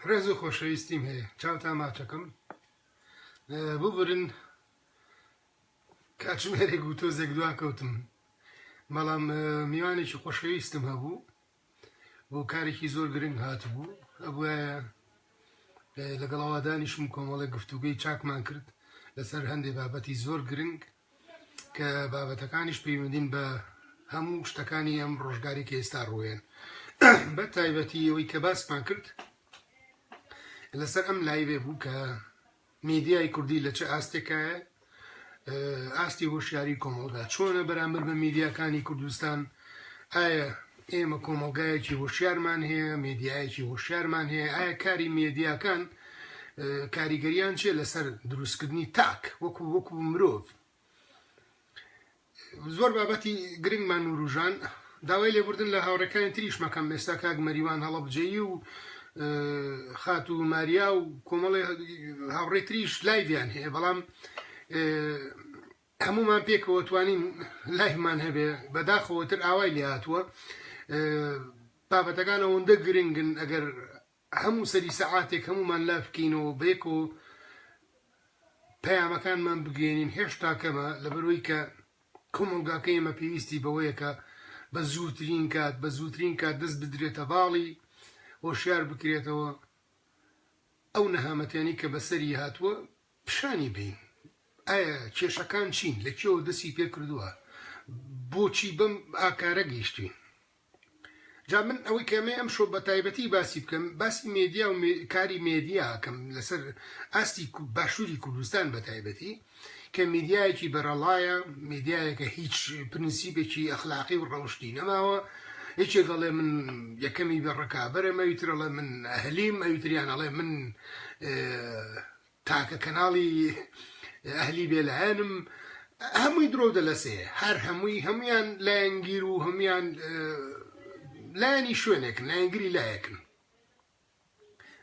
ڕێز و خۆشەویستیم هەیە چاوتا ماچەکەم ببرن کاتژمێرێک و تۆزێک دوا کەوتم بەڵام میوانێکی خۆشەویستم هەبوو بۆ کارێکی زۆر گرنگ هاتبوو ئەبواە لەگەڵاوادانیشم کۆمەڵی گفتوگەی چاکمان کرد لەسەر هەندێک بابەتی زۆر گرنگ کە بابەتەکانیش پەیوەندین بە هەموو شتەکانی ئەم ڕۆژگاری کە ئێستا ڕووێن بە تایبەتی ئەوەی کە باسمان کرد لەسەر ئەم لایبێ بوو کە میدیای کوردی لە چه ئاستێکایە ئاستی هۆشیاری کۆمەڵگا چۆنە بەرامبەر بە میدیاکانی کوردستان ئایا ئێمە کۆمەڵگایەکی هۆشیارمان هەیە، مێدیایەکی هۆشیارمان هەیە، ئایا کاری مێدیاکان کاریگەریان چیە لەسەر دروستکردنی تاک وەکو وەکو مرۆڤ زۆر بابەتی گرنگمان نوروژان داوای لێبوردن لە هاوڕێکانی تریش مەکەم ئێستا کاک مەریوان هەڵەبجەیی و خات و ماریا و کۆمەڵی هاوڕێ تریش لایڤیان هەیە بەڵام هەموومان پێکەوە توانین لایڤمان هەبێ بەداخەوە تر ئاوای لێ هاتووە بابەتەکان ئەوەندە گرنگن ئەگەر هەموو سەری سەعاتێک هەموومان لاف بکەینەوە بەیەکەوە پەیامەکانمان بگەێنین هێشتا کەمە لەبەرەوەی کە کۆمەلگاکە ئێمە پێویستی بەوەیەکە بە زووترین کات بە زووترین کات دەست بدرێتە باڵی هۆشیار بکرێتەوە ئەو نەهامەتیانی کە بەسەری هاتووە پیشانی بەین ئایا کێشەکان چین لە کوێوە دەستی پێ کردووە بۆچی بەم ئاکارە گەیشتوین جا من ئەوەی کەمەی ئەم شۆ بە تایبەتی باسی بکەم باسی مێدیا و کاری مێدیا کەم لەسەر ئاستی باشووری کوردستان بە تایبەتی کە میدیایەکی بەرەڵایە میدیایەکە هیچ پرنسیبێکی ئەخلاقی و ڕەوشتی نەماوە هیچێ دەڵێ من یەکەمی بە ڕکابەرە مەویترەڵێ من هەلیم ئەویتریان ئەڵێ من تاکە کەناڵی ئەهلی بێلایەنم هەمووی درۆ و دەلەسێ هەر هەمووی هەمویان لایەنگیر و هەمویان لایەنی شوێنێکن لایەنگری لایەکن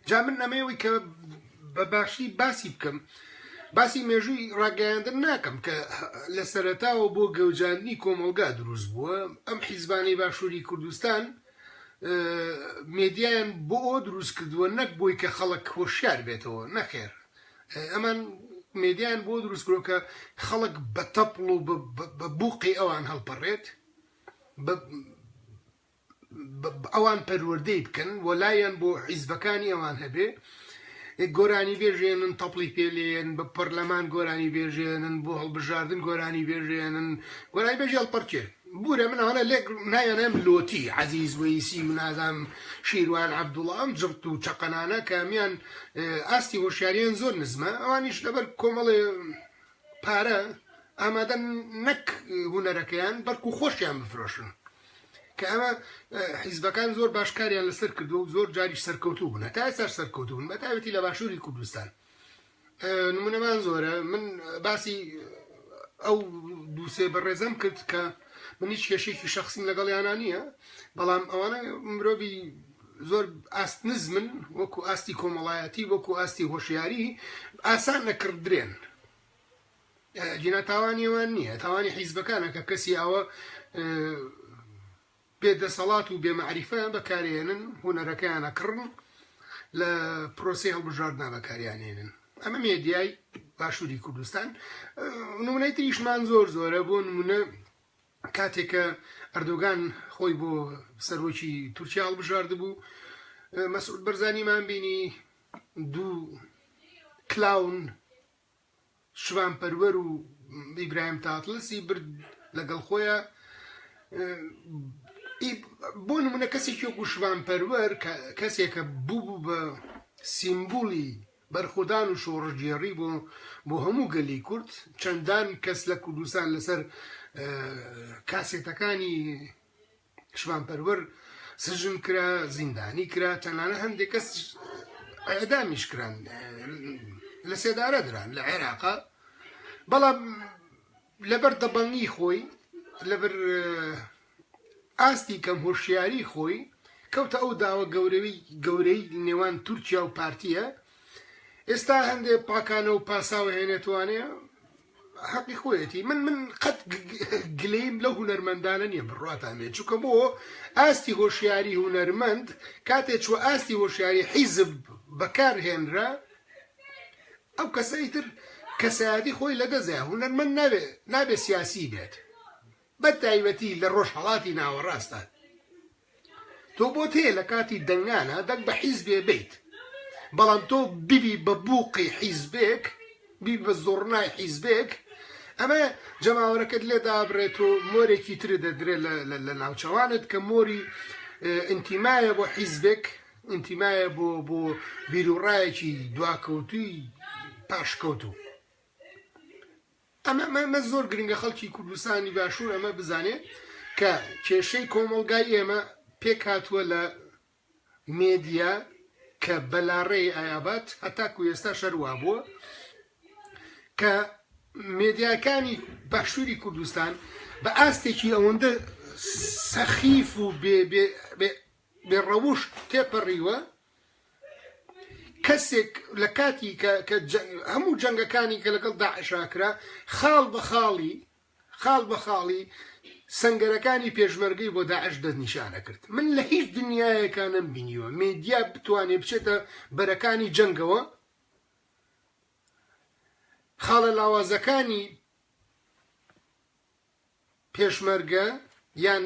جا من نەمەوەی کە بە باشی باسی بکەم باسی مێژووی ڕاگەیاندن ناکەم کە لە سەرەتاوە بۆ گەوجاندنی کۆمەلگا دروست بووە ئەم حیزبانەی باشووری کوردستان مێدیایان بۆ ئەوە دروست کردووە نەک بۆی کە خەڵک هۆشیار بێتەوە نەخێر ئەمان مێدیان بۆ دروست کرۆ کە خەڵک بە تەپڵ و بە بوقی ئەوان هەڵپەڕێت ئەوان پەروەردەی بکەن وەلایەن بۆ حیزبەکانی ئەوان هەبێ گۆرانی بێژێنن تەپڵی پێلێن بە پەرلەمان گۆرانی بێژێنن بۆ هەڵبژاردن گۆرانی بێژێنن گۆرانی بێژی هەڵپەرکێ بورە من ئەوانە لێک ناوێنم لۆتی عزیز ویسی و نازام شیروان عبدوڵام جڕت و چقەنانە کامیان ئاستی هۆشیاریان زۆر نزمە ئەوانیش لەبەر کۆمەڵێ پارە ئامادەن نەک هونەرەکەیان بەرکو خۆشیان بفرۆشن کە ئەمە حیزبەکان زۆر باشکاریان لەسەر کردو و زۆر جاریش سەرکەوتوو بوون تا سەر سەرکەوتون بە تاوەتی لە باشووری کوردستان نمونەمان زۆرە من باسی ئەو دووسێ بەڕێزم کرد کە من هیچ کێشێکی شخصیم لەگەڵیانە نییە بەڵام ئەوانە مرۆڤی زۆر ئاست نزمن وەکو ئاستی کۆمەڵایەتی وەکو ئاستی هۆشیاری ئاسان نەکردرێن جینا تاوانیوان نییە تاوانی حیزبەکانە کە کەسی ئەوە بێ دەسەڵات و بێمەعریفەیان بەکارێنن هوەرەکەیانە کڕن لە پرۆسی هەڵبژاردنا بەکاریانێنن ئەمە مێدیای باشووری کوردستان نمونەی تریشمان زۆر زۆرە بۆ نمونە کاتێک کە ئەردۆگان خۆی بۆ سەرۆکی تورکیا هەڵبژاردبوو، مەسعود بەرزانیمان بینی دوو کلاون شڤان پەروەر و ئیبراهیم تاتڵسی برد لەگەڵ خۆیە بۆ نمونە کەسێکی وەکو شڤان پەروەر کەسێکە بوو بە سیمبولی بەرخۆدان و شۆڕشگێڕی بۆ بۆ هەموو گەلی کورد چەندان کەس لە کوردستان لەسەر کاسێتەکانی شڤان پەروەر سجن کرا زیندانی کرا تەنانە هەندێک کەس ئەدامیش کران لە سێدارە دران لە عێراقا بەڵام لەبەر دەبەنگی خۆی لەبەر ئاستی کەم هۆشیاریی خۆی، کەوتە ئەو داوە گەورەی نێوان تورکیا و پارتییە، ئێستا هەندێ پاکانە و پاساو ئەهێنێتەوانێ، هەقی خۆیەتی، من من قەت گلەییم لەو هونەرمەندانە نییە بڕواتان بێ، چونکە بۆ ئاستی هۆشیاریی هونەرمەند کاتێ چووە ئاستی هۆشیاریی حیزب بەکار هێنرا، ئەو کەسە ئیتر کەسایەتی خۆی لەدەست دا، هونەرمەند نابێ نابێ سیاسیی بێت، بە تایبەتی لە ڕۆژهەڵاتی ناوەڕاستدا تۆ بۆت هەیە لە کاتی دەنگانە دەنگ بە حیزبێ بیت بەڵام تۆ بیبی بە بووقی حیزبێک بی بە زۆڕنای حیزبێک ئەمە جەماوەرەکەت لێ دابڕێت و مۆرێکی تر دەدرێت لە ناوچەوانت کە مۆری ئینتیمایە بۆ حیزبێک ئینتیمایە بۆ بۆ بیرروڕایەکی دواکەوتوی پاشکەوتوو ئەمە ئەمە ئەمە زۆر گرنگە خەڵکی کوردستانی باشوور ئەمە بزانێت کە کێشەی کۆمەڵگای ئێمە پێکهاتووە لە مێدیا کە بەلاڕێی ئایابات هەتاکو ئێستا شەروا بووە کە مێدیاکانی باشووری کوردستان بە ئاستێکی ئەوەندە سەخیف و بێڕەوش تێپەڕیوە کەسێک لە کاتی کە کە جە- هەموو جەنگەکانی کە لەگەڵ داعشا کرا خاڵ بە خاڵی خاڵ بە خاڵی سەنگەرەکانی پێشمەرگەی بۆ داعش دەست نیشانە کرد من لە هیچ دنیایەکە نەم بینیوە مێدیا بتوانێ بچێتە بەرەکانی جەنگەوە خاڵە لاوازەکانی پێشمەرگە یان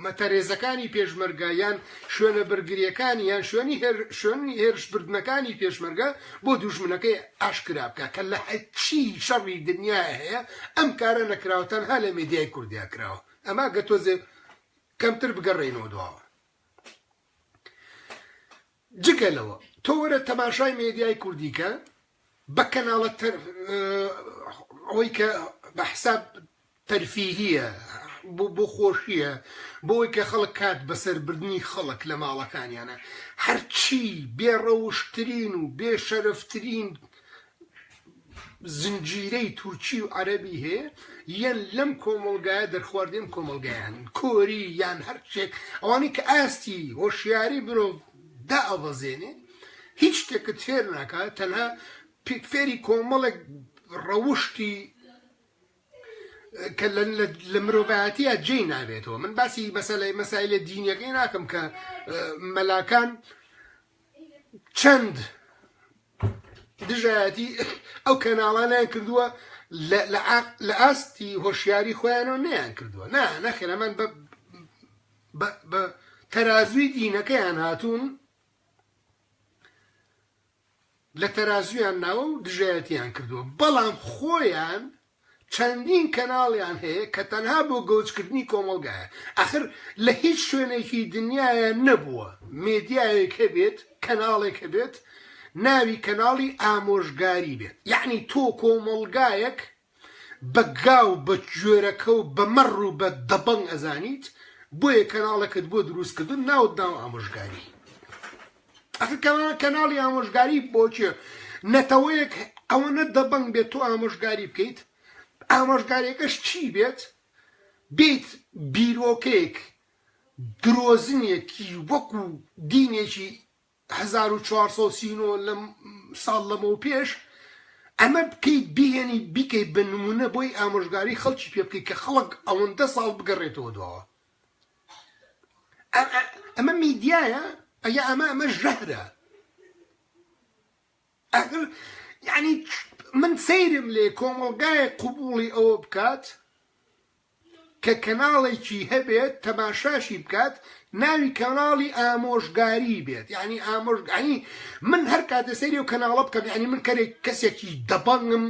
مەتەرێزەکانی پێشمەرگە یان شوێنە بەرگریەکانی یان شوێنی شوێنی هێرشبردنەکانی پێشمەرگە بۆ دوژمنەکەی ئاشکرا بکە کە لە هەچی شەڕی دنیا هەیە ئەم کارە نەکراوە تەنها لە میدیای کوردیا کراوە ئەما گە تۆزێ کەمتر بگەڕێنەوە دواوە جگە لەوە تۆ وەرە تەماشای مێدیای کوردی کە بە کەناڵە تەر ئەوەی کە بە حساب تەرفیهیە بۆ خۆشیە بۆی کە خەڵک کات بەسەربردنی خەڵک لە ماڵەکانیانە هەرچی بێڕەوشترین و بێشەرفترین زنجیرەی تورکی و عەرەبی هەیە یەن لەم کۆمەڵگایە دەرخواردەی ئەم کۆمەڵگایان کۆری یان هەر شتێک ئەوانەی کە ئاستی هۆشیاری مرۆڤ دائەبەزێنێ هیچ شتێکت فێر ناکات تەنها پێک فێری کۆمەڵێک ڕەوشتی کە لە مرۆڤایەتیە جێی نابێتەوە من باسی مەسەلەی مەسایلە دینیەکەی ناکەم کە مەلاکان چەند دژایەتی ئەو کەناڵانیان کردووە لە ئاستی هۆشیاری خۆیانەوە نیان کردووە نا نەخێرەمان بە تەرازوی دینەکەیان هاتوون لە تەرازوویان ناوە و دژایەتیان کردووە، بەڵام خۆیان چەندین کەناڵیان هەیە کە تەنها بۆ گەوجکردنی کۆمەڵگایە، ئاخر لە هیچ شوێنێکی دنیایا نەبووە مێدیایەک هەبێت، کەناڵێک هەبێت ناوی کەناڵی ئامۆژگاری بێت، یەعنی تۆ کۆمەڵگایەک بە گا و بە گوێرەکە و بە مەڕ و بە دەبەنگ ئەزانیت بۆیە کەناڵەکەت بۆ دروست کردوون ناوت ناوە ئامۆژگاری ئەخ کەناڵ کەناڵی ئامۆژگاری بۆچێ نەتەوەیەک ئەوەنە دەبەنگ بێت تۆ ئامۆژگاری بکەیت ئامۆژگاریەکەش چی بێت بیت بیرۆکەیەک درۆزنێکی وەکو دینێکی هەزار و چوار سەد و سی و نۆ لە ساڵ لەمەو پێش ئەمە بکەیت بیهێنی بیکەی بە نمونە بۆی ئامۆژگاری خەڵکی پێ بکەی کە خەڵک ئەوەندە ساڵ بگەڕێتەوە دواوە ئەمە میدیایە ئەگە ئەمە ئەمە ژەهرە ئەگەر یعنی من سەیرم لێ کۆمەڵگای قوبوڵی ئەوە بکات کە کەناڵێکی هەبێت تەماشاشی بکات ناوی کەناڵی ئامۆژگاری بێت یعنی ئامۆژگانی من هەر کاتێ سەیری و کەناڵە بکەم یعنی من کەرێک کەسێکی دەبەنگم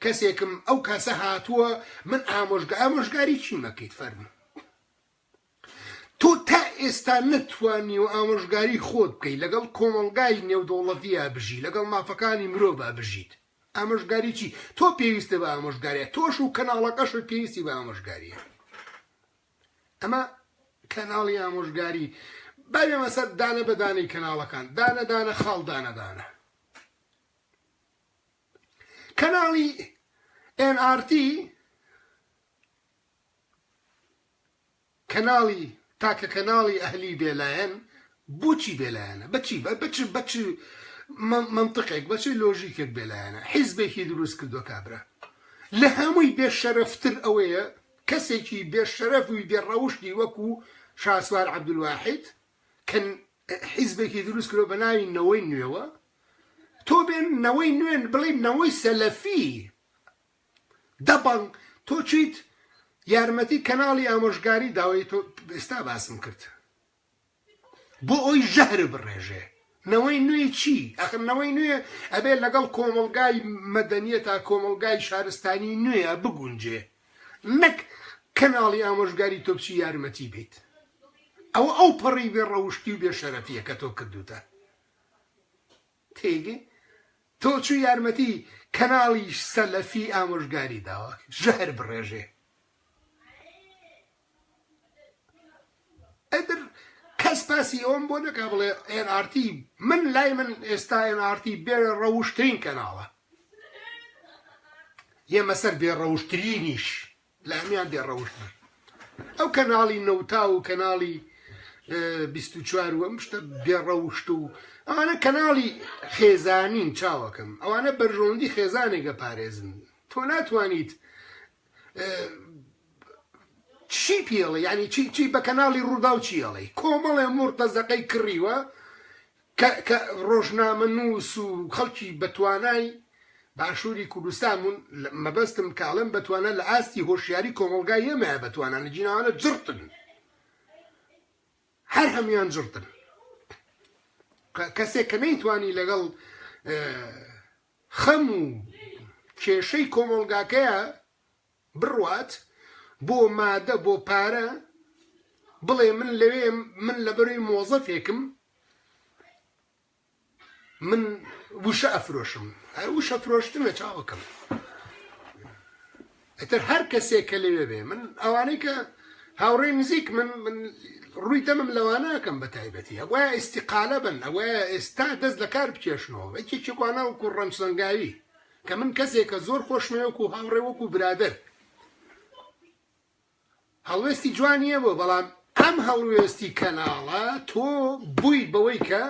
کەسێکم ئەو کاسە هاتووە من ئامۆژگە ئامۆژگاری چیمەکەیت فەرموو تۆ تا ئێستا نەتوانیوە ئامۆژگاری خۆت بکەی لەگەڵ کۆمەڵگای نێودەوڵەتیا بژی لەگەڵ مافەکانی مرۆڤا بژیت ئامۆژگاری چی تۆ پێویستە بە ئامۆژگاریە تۆش و کەناڵەکەشت پێویستی بە ئامۆژگاریە ئەمە کەناڵی ئامۆژگاری بابێمە سەر دانە بەدانەی کەناڵەکان دانە دانە خاڵ دانە دانە کەناڵی NRT کەناڵی تاکە کەناڵی ئەهلی بێلایەن بۆچی بێلایەنە بەچی بە بچ بەچ منطقێک بەچ لۆژیکێک بێلایەنە حیزبێکی دروست کردوە کابرا لە هەمووی بێشەرفتر ئەوەیە کەسێکی بێشەرف و بێڕەوشتی وەکو شاسوار عبدواحد کە حیزبێکی دروست کرۆ بە ناوی نەوەی نوێوە تۆ بێن نەوەی نوێن بڵێ نەوەی سەلەفی دەبەنگ تۆ چیت یارمەتی کەناڵی ئامۆژگاری داوەی تۆ ئێستا باسم کرد بۆ ئەوی ژەهر بڕێژێ نەوەی نوێی چی ئەخر نەوەی نوێ ئەبێ لەگەڵ کۆمەلگای مەدەنیە تا کۆمەلگای شارستانی نوێە بگونجێ نەک کەناڵی ئامۆژگاری تۆپچی یارمەتی بیت ئەوە ئەو پەڕی بێ ڕەوشتی و بێ شەرەفیە کە تۆ کردوتە تێگەی تۆ چوو یارمەتی کەناڵی سەلەفی ئامۆژگاری داوە ژەهر بڕێژێ ئەدر کەس باسی ئەوم بۆ نەکا بڵێ NRT من لای من ئێستا NRT بێ ڕەوشترین کەناڵە یەمە سەر بێ ڕەوشترینیش لەهەمیان بێ ڕەوشت بن ئەو کەناڵی نەوتا و کەناڵی بیست و چوار و ئەم شتە بێ ڕەوشت و ئەوانە کەناڵی خێزانین چاوەکەم ئەوانە بەرژەوەندی خێزانێکە پارێزن تۆ ناتوانیت چی پێڵێ ینی چی چی بە کەناڵی ڕوودا و چیڵێ کۆمەڵێ مرتەزەقەی کڕیوە کە کە ڕۆژنامەنووس و خەڵکی بەتوانای باشووری کوردستان بوون، مەبەستم کە ئەڵێم بەتوانا لە ئاستی هۆشیاری کۆمەڵگای ئێمەیە بەتوانا نەجیناوانە جڕتن هەر هەموان جڕتن کەسێک کە نەیتوانی لەگەڵ خەم و کێشەی کۆمەڵگاکەیە بڕوات بۆ مادە بۆ پارە بڵێ من لەوێم من لەبەروی مۆزەفێکم من وشە ئەفرۆشم هەر وشە فرۆشتنە چاوەکەم ئەتر هەر کەسێک کە لەوێ بێ من ئەوانەی کە هاوڕێ نزیک من من ڕووی دەمم لەوانەکەم بە تایبەتی ئەوە ئیسیقالە بن ئەوە ئێستا دەست لە کار بکێشنەوە ئەکێکێکوانە وکو ڕەنج سەنگاوی کە من کەسێکە زۆر خۆشمەوێ وەکو هاوڕێ وەکو برادەر هەڵوێستی جوانیە بۆ بەڵام ئەم هەڵوێستی کەناڵە تۆ بوویت بەوەی کە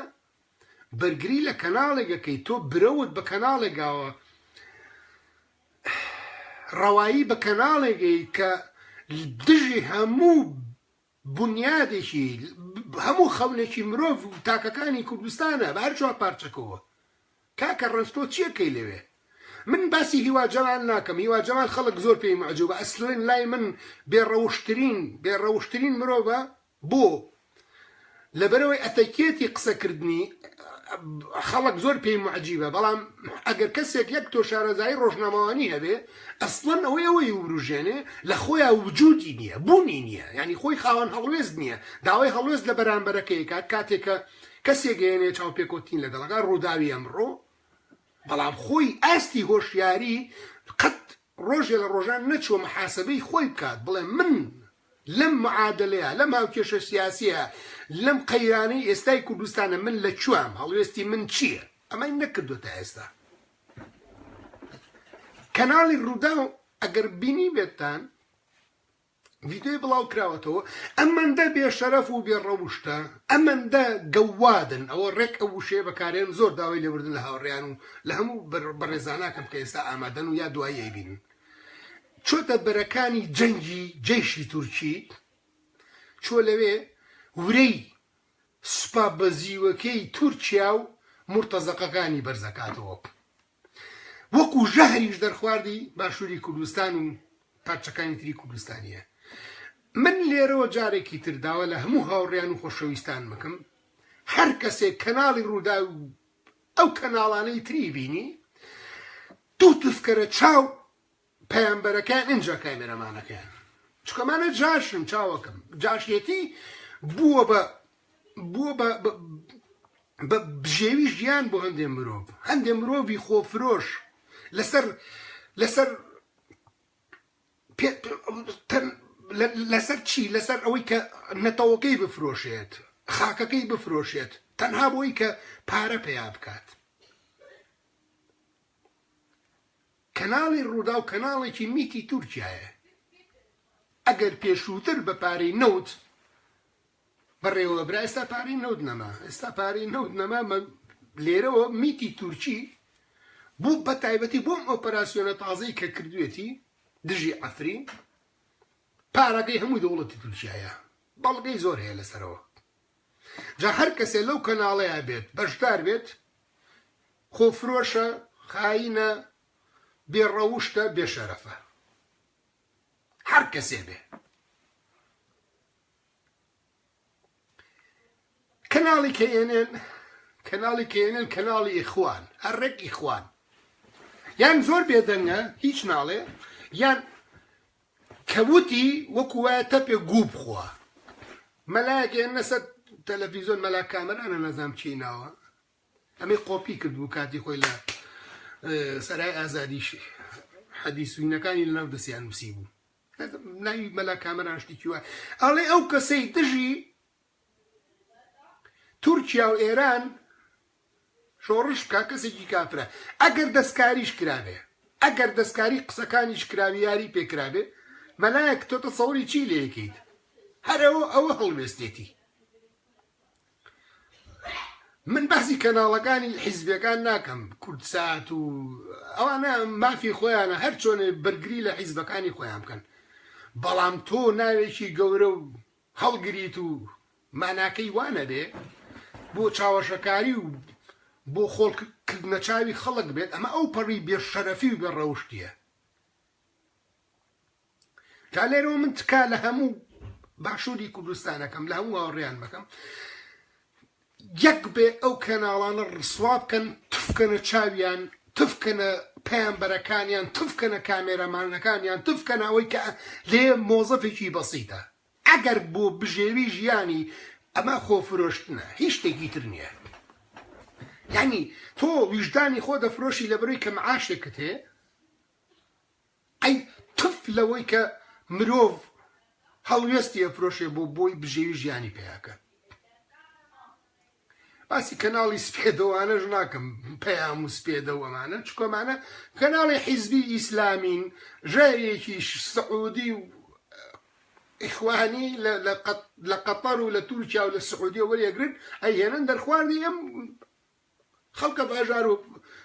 بەرگری لە کەناڵێکەکەی تۆ برەوت بە کەناڵێکاوە ڕەوایی بە کەناڵێکەی کە دژی هەموو بونیادێکی هەموو خەونێکی مرۆڤ و تاکەکانی کوردستانە بە هەر چوار پارچەکەوە. کاکە ڕەنج تۆ چیەکەی لەوێ؟ من باسی هیوا جەمال ناکەم هیوا جەمال خەڵک زۆر پێی مەعجوبە ئەسلن لای من بێ ڕەوشترین بێ ڕەوشترین مرۆڤە بۆ؟ لەبەرئەوەی ئەتەکێتی قسەکردنی خەڵک زۆر پێی موعجیبە، بەڵام ئەگەر کەسێک یەک تۆ شارەزایی ڕۆژنامەوانی هەبێ، ئەسڵەن ئەوەی ئەوەی ورووژێنێ لە خۆیا وجودی نییە، بوونی نییە، یانی خۆی خاوەن هەڵوێست نییە، داوای هەڵوێست لە بەرانبەرەکەی کات، کاتێ کە کەسێک هێنێ چاوپێکەوتنی لەگەڵەکە، ڕووداوی ئەمڕۆ، بەڵام خۆی ئاستی هۆشیاری قەت ڕۆژێ لە ڕۆژان نەچووە محاسەبەی خۆی بکات، بڵێ من، لەم معادەلەیە، لەم هاوکێشە سیاسییە، لەم قەیرانەی ئێستای کوردستانە من لە کوام، هەڵوێستی من چییە؟ ئەمەی نەکردووە تا ئێستا. کەناڵی رووداو ئەگەر بینیبێتتان، ڤیدیۆی بڵاوکراوەتەوە، ئەمەندە بێشەرەف و بێڕەوشتە، ئەمەندە گەوادن، ئەوە رێک ئەو وشەیە بەکارهێنم زۆر داوای لێبوردن لە هاوڕێیان و لە هەموو بەڕێزاناکەم کە ئێستا ئامادەن و یا دوایی ئەیبینن. چۆتە بەرەکانی جەنگی جەیشی تورکی، چووە لەوێ ورەی سوپا بەزیوەکەی تورکیا و مورتەزەقەکانی بەرزەکاتەوە. وەکو ژەهریش دەرخواردی باشووری کوردستان و پارچەکانی تری کوردستانیە. من لێرەوە جارێکی تر داوا لە هەموو هاوڕێیان و خۆشەویستان مەکەم، هەرکەسێک کەناڵی ڕووداو ئەو کەناڵانەی تری بینی دوو تفکەرە چاو پەیامبەرەکەیان ئینجا کامێرەمانەکەیان چکەمانە جاشن چاوەکەم جاشێتی بووە بە بووە بە بە بژێوی ژیان بۆ هەندێ مرۆڤ هەندێ مرۆڤی خۆفرۆش لەسەر لەسەر لەسەر چی؟ لەسەر ئەوەی کە نەتەوەکەی بفرۆشێت، خاکەکەی بفرۆشێت، تەنها بۆی کە پارە پەیا بکات. کەناڵی ڕووداو کەناڵێکی میتی تورکیایە. ئەگەر پێشووتر بە پارەی نەوت بەڕێوە برا ئێستا پارەی نەوت نەما ئێستا پارەی نەوت نەما لێرەوە میتی تورکی بۆ بە تایبەتی بۆم ئۆپەراسسیۆنە تازەی کە کردوێتی دژی ئەفرین پارەکەی هەموو دەوڵەتی تورکایە بەڵگەی زۆر هەیە لەسەرەوە جا هەر کەسێ لەو کەناڵەیە بێت بەشدار بێت خۆفرۆشە خاینە بێڕەوشتە بێشەرەفە هەر کەسێ بێ کەناڵی کەێنێن کەناڵی کەێنێن کەناڵی ئیخوان هەر ڕێک ئیخوان یان زۆر بێدەنگە هیچ ناڵێ یان کەوتی وەکو وایە تەپێ گوو بخوا مەلایەکە نەسەر تەلەڤیزۆن مەلا کامەرانە نەزام چی ناوە ئەمەی قۆپی کردبوو کاتی خۆی لە سەرای ئازادیش حەدیسوینەکانی لەناو دەستیان نووسی بوو ناوی مەلا کامەران شتێکی وایە ئەڵێ ئەو کەسەی دژی تورکیا و ئێران شۆڕش بکە کەسێکی کافرە ئەگەر دەستکاریش کرابێ ئەگەر دەستکاری قسەکانیش کراوی یاری پێکرابێ مەلایەک تۆ تەسەوری چی لێکیت هەرەوە ئەوە هەڵوێستێتی من باسی کەناڵەکانی حیزبەکان ناکەم کوردسات و ئەوانە مافی خۆیانە هەر چۆنێ بەرگری لە حیزبەکانی خۆیان بکەن بەڵام تۆ ناوێکی گەورە و هەڵگریت و ماناکەی وانە بێ بۆ چاوەشەکاری و بۆ خۆڵکردنە چاوی خەڵک بێت ئەمە ئەو پەڕی بێ شەرەفی و بێ ڕەوشتیە جا لێرەوە من تکا لە هەموو باشووری کوردستانەکەم لە هەموو هاوڕێیان بەکەم یەک بێ ئەو کەناڵانە ڕسوا بکەن تفکەنە چاویان تفکەنە پەیامبەرەکانیان تفکەنە کامێرەمانەکانیان تفکەنە ئەوەی کە لێ مۆزەفێکی بەسیتە ئەگەر بۆ بژێوی ژیانی ئەمە خۆفرۆشتنە هیچ شتێکی تر نییە یعنی تۆ ویژدانی خۆ دەفرۆشی لە بەروی کە معاشێکت هەیە ئەی تف لەوەی کە مرۆڤ هەڵوێستی ئەفرۆشێ بۆ بۆی بژێوی ژیانی پەیاکەن باسی کەناڵی سپێدەوانەش ناکەم پەیام و سپێدە و ئەمانە چکۆمانە کەناڵی حیزبی ئیسلامین ژێرێکی سعودی و ئیخوانی لە قەتەر و لە تورکیا و لە سعودیە وەرێگرن ئەیهێنن دەرخواردی ئەم خەڵکە باژار و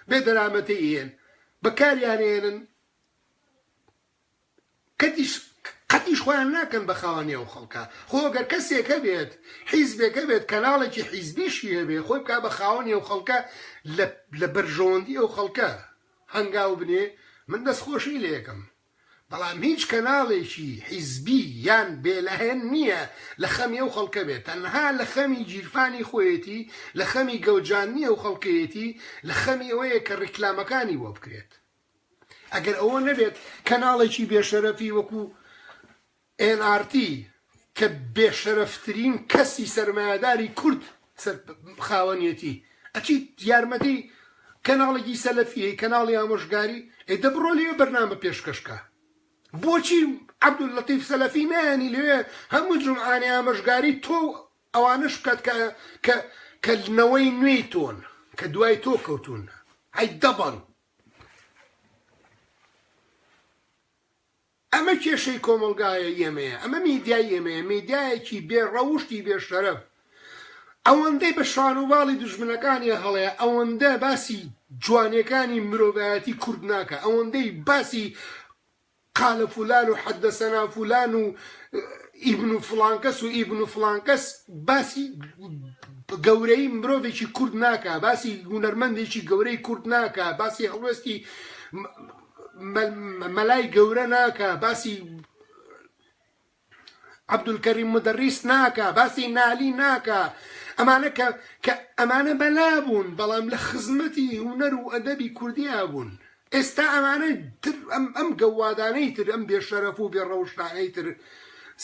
بێ دەرامەتەی هێن بەکاریان هێنن کەتیش قەتیش خۆیان ناکەن بە خاوەنی ئەو خەڵکە خۆ گەر کەسێکە بێت حیزبێکە بێت کەناڵێکی حیزبیشی هەبێ خۆی بک بە خاوەنی ئەو خەڵکە لە بەرژەوەندی ئەو خەڵکە هەنگاو بنێ من دەست خۆشی لە یەکەم بەڵام هیچ کەناڵێکی حیزبی یان بێلەهێن نییە لە خەمی ئەو خەڵکە بێت، تەنها لە خەمی گیرفانی خۆیەتی، لە خەمی گەوجاندنی ئەو خەڵکەیەتی، لە خەمی ئەوەیە کە ڕیکلامەکانی بۆ بکرێت. ئەگەر ئەوە نەبێت کەناڵێکی بێشەرەفی وەکو ئێن ئاڕ تی کە بێشەرەفترین کەسی سەرمایەداری کورد خاوەنیەتی ئەچیت یارمەتی کەناڵێکی سەلەفی هەی کەناڵی ئامۆژگاری ئەی دە بڕۆ لێ بەرنامە پێشکەش کە بۆچی عەبدول لەتیف سەلەفی نایانی لەوێ هەموو جمعانێ ئامۆژگاری تۆ ئەوانەش بکات کە کە کە نەوەی نوێی تۆن کە دوای تۆ کەوتون ئەی دەبڕ ئەمە کێشەی کۆمەڵگایە ئێمەیە ئەمە میدیای ئێمەیە میدیایەکی بێ ڕەوشتی بێ شەرەف ئەوەندەی بە شان و باڵی دوژمنەکانی هەڵەیە ئەوەندە باسی جوانێکانی مرۆڤایەتی کورد ناکە ئەوەندەی باسی قالە فولان و حەدە سەنا فولان و ئیبن و فلانکەس و ئیبن و فلانکەس باسی گەورەی مرۆڤێکی کورد ناکە باسی گونەرمەندێکی گەورەی کورد ناکە باسی هەڵوێستی مەلای گەورە ناکە باسی عەبدولکەریم مدەڕیس ناکە باسی نالی ناکە ئەمانە کە کە ئەمانە بەلا بوون بەڵام لە خزمەتی هوەر و ئەدەبی کوردیا بوون ئێستا ئەمانە تر ئەم ئەم گەوادانەی تر ئەم بێشەرەف و بێ ڕەوشتانەی تر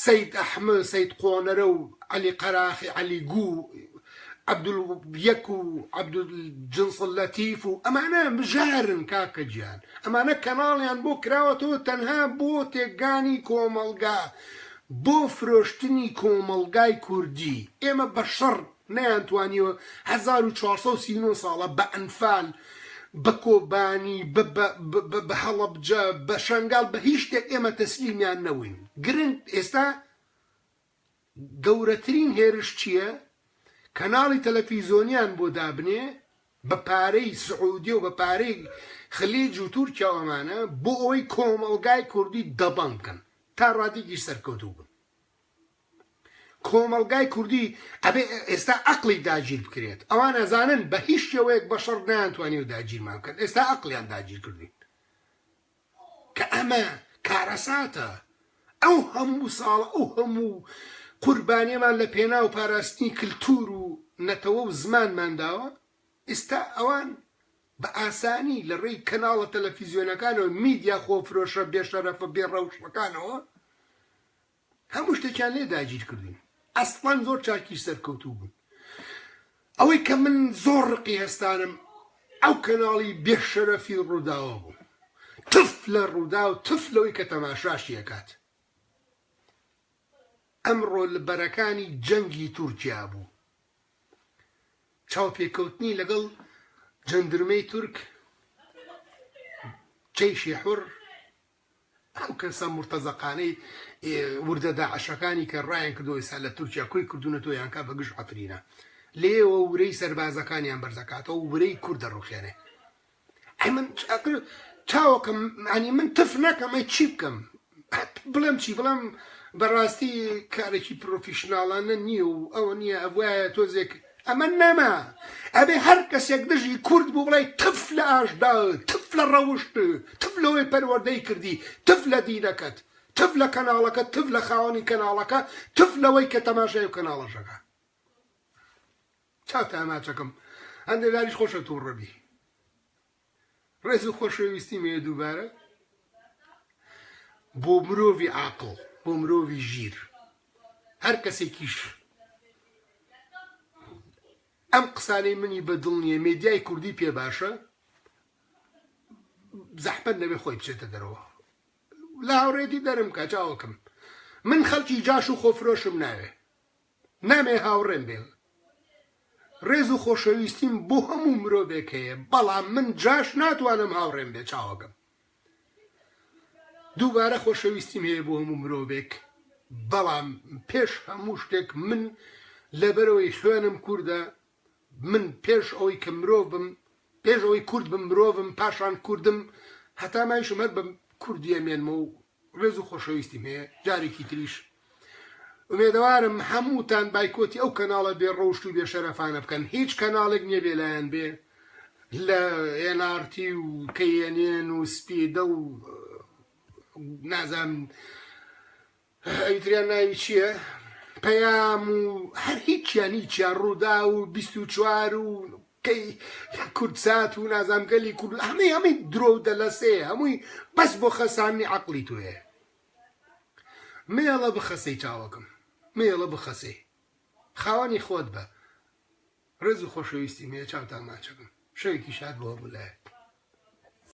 سید ئەحمد سید قۆنەرە و علی قەراخی علی گوو عبدول یەک و عبدول جنس لەتیف و ئەمانە بژارن کاکە گیان ئەمانە کەناڵیان بۆ کراوەتەوە تەنها بۆ تێکدانی کۆمەڵگا بۆ فرۆشتنی کۆمەڵگای کوردی ئێمە بە شەڕ نەیان توانیوە 1439 ساڵە بە ئەنفال بە کۆبانی بە هەڵەبجە بە شەنگال بە هیچ شتێک ئێمە تەسلیمیان نەوین گرنگ ئێستا گەورەترین هێرش چیە کەناڵی تەلەفیزۆنیان بۆ دابنێ بە پارەی سعودیە و بە پارەی خلیج و تورکیا و ئەمانە بۆ ئەوەی کۆمەڵگای کوردی دەبەنگ بکەن تا ڕادەیەکیش سەرکەوتوو بن کۆمەڵگای کوردی ئەبێ ئێستا ئەقلی داگیر بکرێت ئەوان ئەزانن بە هیچ شێوەیەک بەشەڕ نەیانتوانی و داگیرمان بکەن ئێستا ئەقلیان داگیر کردین کە ئەمە کارەساتە، ئەو هەموو ساڵە ئەو هەموو قوربانیەمان لە پێناو پاراستنی کلتور و نەتەوە و زمانمان داوە، ئیستا ئەوان بە ئاسانی لە ڕێی کەناڵە تەلەفیزیۆنەکانەوە میدیا خۆفرۆشە بێ شەرەفە بێ ڕەوشتەکانەوە، هەموو شتێکیان لێ داگیر کردوون ئەسڵەن زۆر چاکی سەرکەوتوو بوون ئەوەی کە من زۆر ڕقی هەستانم ئەو کەناڵی بێ شەرەفی ڕووداوە بوو تف لە ڕوودا و تف لەوەی کە تەماشاشی ئەکات ئەمڕۆ لە بەرەکانی جەنگی تورکیا بوو چاوپێکەوتنی لەگەڵ جەندرمەی تورک جەیشی حڕ ئەو کەسە مورتەزەقانەی وردە داعشەکانی کە ڕایان کردوە ئێستا لە تورکیا کۆی کردونەتەوە یان کا بە گژ عەفرینە لێیەوە ورەی سەربازەکانیان بەرزەکاتەوە ورەی کورد دەڕوخێنێ ئەی من چاوەکەم معنی من تف نەکەم ئەی چی بکەم بڵێم چی بڵێم بەڕاستی کارێکی پرۆفیشنناڵانە نییە و ئەوە نییە ئەوایە تۆزێک ئەمە نەما ئەبێ هەر کەسێک دژی کورد بوو بڵێ تف لە ئاژدا تف لە ڕەوشت تف لەوەی پەروەردەی کردی تف لە دینەکەت تف لە کەناڵەکە تف لە خاوەنی کەناڵەکە تف لەوەی کە تەماشای و کەناڵەشەکە چاوتە ئەماچەکەم هەندێک داریش خۆشە تووڕەبی ڕێز و خۆشەویستی مەیە دووبارە بۆ مرۆڤی عاقڵ بۆ مرۆڤی ژیر هەر کەسێکیش ئەم قسانەی منی بە دڵ نییە مێدیای کوردی پێ باشە زەحمەت نەبێ خۆی بچێتە دەرەوە لە هاوڕێتی دەرم کە چاوەکەم من خەڵکی جاش و خۆفرۆشم ناوێ نامێ هاوڕێم بێ ڕێز و خۆشەویستیم بۆ هەموو مرۆڤێک هەیە بەڵام من جاش ناتوانم هاوڕێم بێ چاوەکەم دووبارە خۆشەویستیم هەیە بۆ هەموو مرۆڤێک بەڵام پێش هەموو شتێک من لەبەرەوەی خوێنم کووردە من پێش ئەوەی کە مرۆڤ بم پێش ئەوەی کورد بم مرۆڤم پاشان کوردم هەتا مایشم هەر بە کوردی ئەمێنمە و ڕێز و خۆشەویستیم هەیە جارێکی تریش ئومێدەوارم هەمووتان بایکۆتی ئەو کەناڵە بێ ڕەوشت و بێ شەرەفانە بکەن هیچ کەناڵێک نییە بێ لایەن بێ لە NRT و KNN و سپیدە و نازانم ئەویتریان ناوی چییە؟ پەیام و هەر هیچیان هیچیان ڕوودا و بیست و چوار و کەی کوردسات و نازامگەلی کورد هەمەی هەمەی درۆ و دەلەسێ هەمووی بەس بۆ خەساننی عقلی توێ مێڵە بخەسەی چاوەکەم مێڵە بخەسەی خاوەنی خۆت بە ڕێز و خۆشەویستی مێ چاوتا ماچەکەم شەوێکی شاد بۆ هەموو لایەک